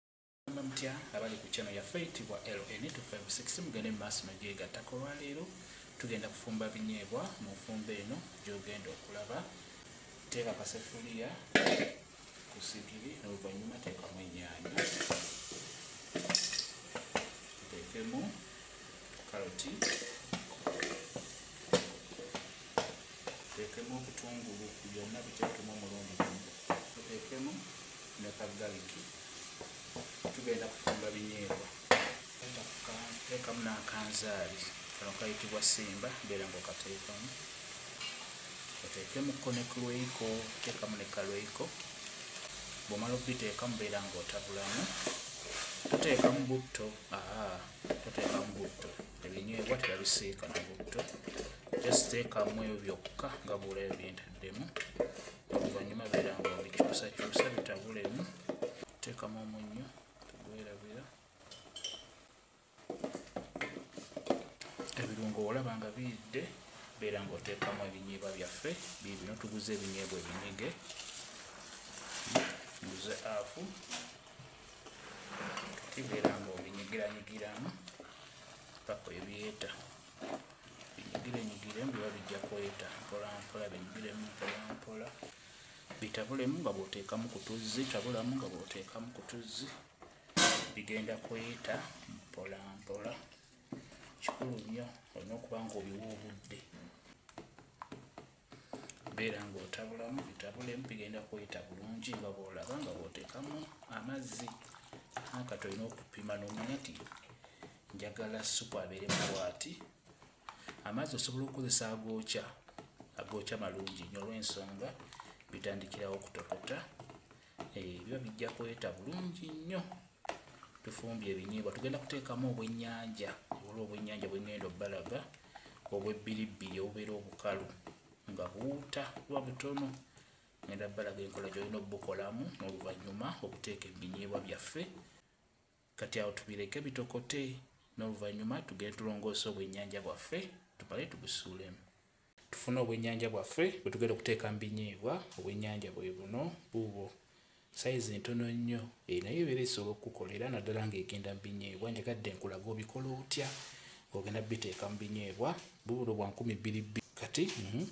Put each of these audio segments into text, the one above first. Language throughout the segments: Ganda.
Mugamba mutya abali ku channel yaffe eyitibwa LN256 mugende mu maaso nogyegattako olwaleero tugenda kufumba binyeebwa mu nfumba eno gyogenda okulaba teeka kasefuliya ku sigiri n'oluvannyuma teekamu ennyaanya teekemu karoti teekemu obutungulu byonna bitekemu omulundi gumu teekemu ne ka galiki tugenda kufumba binyeebwa tekamu n'akanzaali kano kayitibwa simba beera nga okateekamu oteekemuko ne kulweiko teekamu ne kalweiko bwomala okubiteekamu beera nga otabulamu toteekamu butto aa toteekamu butto ebinyeebwa tebabisiika na butto just teekamu ebyo byokka nga bwolayo byentaddemu oluvannyuma beera nga obikyusakyusa bitabulemu teekamu omunnyo tugwerabira ebirungo olaba nga biyidde beera nga oteekamu ebinyeebwa byaffe bibino tuguze ebinyeebwa ebinyige nguze afu kati beera nga obinyigiranyigiramu paka ebyeta binyigire mbu babijja kweta mpolampola binyigiremu mpolampola bitabulemu nga bwoteekamu ku tuzzi tabulamu nga bwoteekamu ku tuzzi bigenda kweta mpolampola kikulu nnyo olina okuba nga obiwa obudde beera ng'otabulamu bitabulemu bigenda kuyita bulungi nga bwolaba nga bwotekamu amazzi nakati olina okupima nomanya ti njagala supu abeere mubwati amazzi osobola okukozesa agookya agookya malungi nyo olwensonga bitandikirawo okutokota eh, biba bijja kweta bulungi nnyo tufumbye ebinyeebwa tugenda kuteekamu obwennyanja ola obwennyanja bwengenda obbalaga obwebbiribbiri obubeera obukalu nga buwuta kuba butono ngenda bbalaga enkola gyolina obukolamu n'oluvannyuma okuteeka ebinyeebwa byaffe kati awo tubireke bitokote n'oluvannyuma tugende tulongoosa obwennyanja bwaffe tubale tubusuulemu tufune obwennyanja bwaffe bwe tugenda okuteeka mu binyiibwa obwennyanja bwe buno buubwo sayizi ntono nnyo eyo naye ebeera esobola okukukolera naddala ng'egenda mu binyiibwa njagadde nkulaga obikola otya ng'ogenda biteeka mu binyiibwa bubuno bwa nkumi bbiri bbi kati mhm,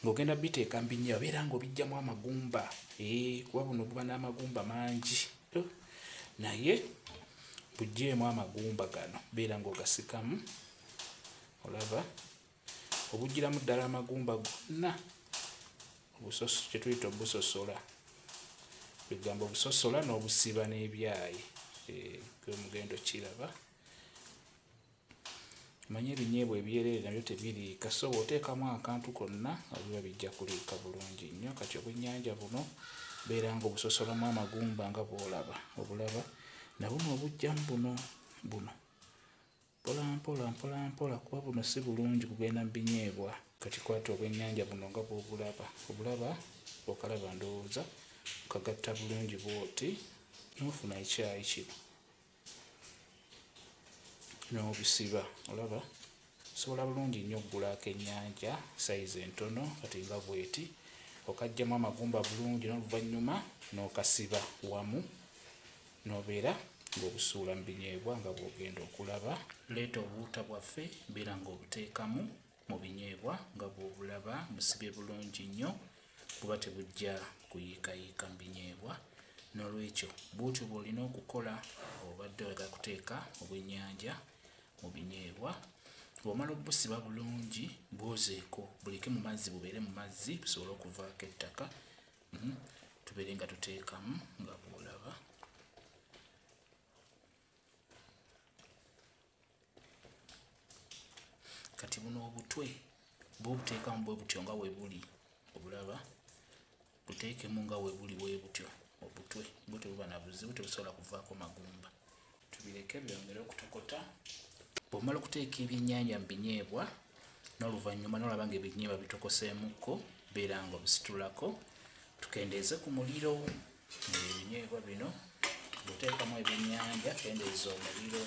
ng'ogenda biteeka mu binyiibwa beera ng'obijjamu amagumba eh, kuba buno buba n'amagumba mangi naye bujeemu amagumba gano beera ngaogasikamu olaba obugiramu ddala amagumba gonna kyetuyita obusosola egambo obusosola n'obusiba n'ebyayi eh, omugendo kiraba manye ebinyeebwa ebyereere nabyo tebiriika so bw'oteekamu akantu konna biba bijja kuliika bulungi nnyo kati obwennyanja buno beera nga obusosolamu amagumba nga bw'olaba obulaba na buno obujjamu buno buno mpolampola mpolampola kuba buno si bulungi kugenda mu binyeebwa kati kwata obwennyanja buno nga bw'obulaba obulaba okalaba ndowooza okagatta bulungi bw'oti n'ofuna ekyayi kino n'obisiba olaba osobola bulungi nnyo okugulaako ennyanja sayizi entono kati nga bweti okajjamu amagumba bulungi n'oluvannyuma n'okasiba wamu n'obeera ng'obusuula mu binyeebwa nga bw'ogenda okulaba leeta obuwuta bwaffe beera ng'obuteekamu mu binyeebwa nga bw'obulaba busibye bulungi nnyo buba tebujja kuyiikayiika mu binyeebwa n'olwekyo bwotyo bw'olina okukola obadde oyaga kuteeka obwennyanja mu binyeebwa bw'omala obusiba bulungi bwozeeko buleke mu mazzi bubeere mu mazzi busobole okuvaako ettaka mhm. tubeere nga tuteekamu nga bwolaba kati buno obutwe bwobuteekamu bwe butyo nga webuli obulaba buteekemu nga webuli webutyo obutwe bwe tebuba na buzibu tebusobola kuvaako magumba tubireke byongere okutokota bwomala okuteeka ebyenyanja mu binyeebwa n'oluvannyuma nolaba nga ebinyeebwa bitokoseemukko beera nga obisitulako tukendeeze ku muliro ebinyeebwa bino buteekamu ebyenyanja kendeeza omuliro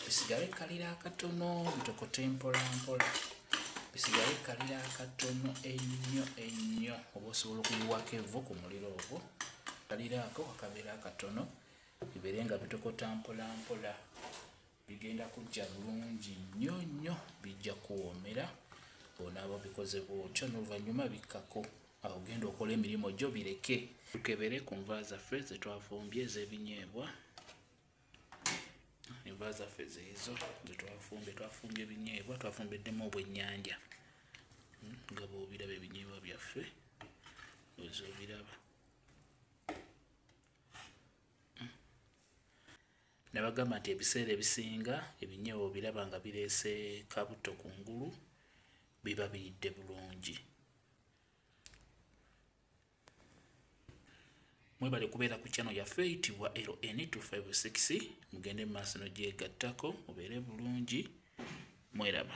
bisigale kalira akatono bitokote mpolampola bisigale kalira akatono ennyo ennyo oba osobola okuyiwako evu ku muliro ogwo kaliraako wakabeera akatono bibeere nga bitokota mpolampola bigenda kujja bulungi nnyo nnyo bijja kuwoomera bonaaba bikoze bwotyo n'oluvannyuma bikkako awo genda okola emirimu gyo bireke tukebere ku nva zaffe ze twafumbye ez'ebinyeebwa enva zaffe zeezo ze twafumbye twafumbye ebinyeebwa twafumbiddemu obwennyanja hmm, nga bwobiraba ebinyeebwa byaffe oza obiraba Nabagamba nti ebiseera ebisinga ebinyewo biraba nga bireese kabutto ku ngulu biba biyidde bulungi. mwebale kubeera ku channel yaffe eyitibwa LN256 mugende mu maaso nogyegattako mubeere bulungi mweraba